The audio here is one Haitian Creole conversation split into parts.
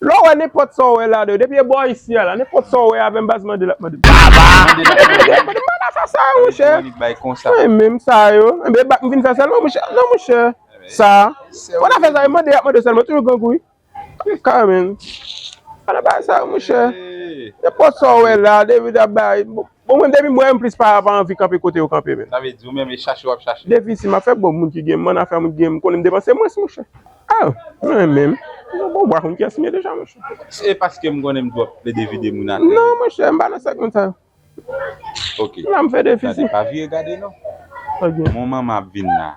Lè w wè nenpòt sa w wè la de depi e bò ayisyen la nenpòt sa w wè avè m baz mande l ap mande m sa yo monchè mwen menm sa yo enben e bak m vin fè sèlman monchè non monchè sa fò n ap fè sa yo mande y ap mande sèlman toujou grangou wi m ka menm pa nan bagay sa yo monchè nenpòt sa w wè la depi w ap bay bon. Bon mwen depi m wè yo m plis pa anvi kanpe kote yo kanpe menm. Sa vle di ou menm e chache wap chache. Depi si map fè bon moun ki gen m'en afè moun ki gen m konnen m depanse mwens monchè. Ah mwen menm bon bwa konn kyes m ye deja monchè. Se paske m konnen m twòp plede vide moun atè. Non monchè m pa nan sèk moun sa yo. Ok. M la m fè defisi. Gade pa vire gade non. Ok. Mon manman ap vin la.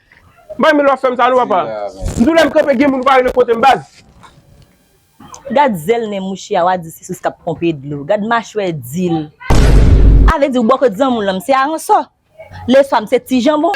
May men lwa fèm sa non papa. M tou lèm kanpe gen moun vare nan kotem baz. Gad zèl nen mouche a wa di se sous kap ponpe dlo gad machwè dil avè di ou bò kot zanmi w lan m se aransò le swa m se ti janbon.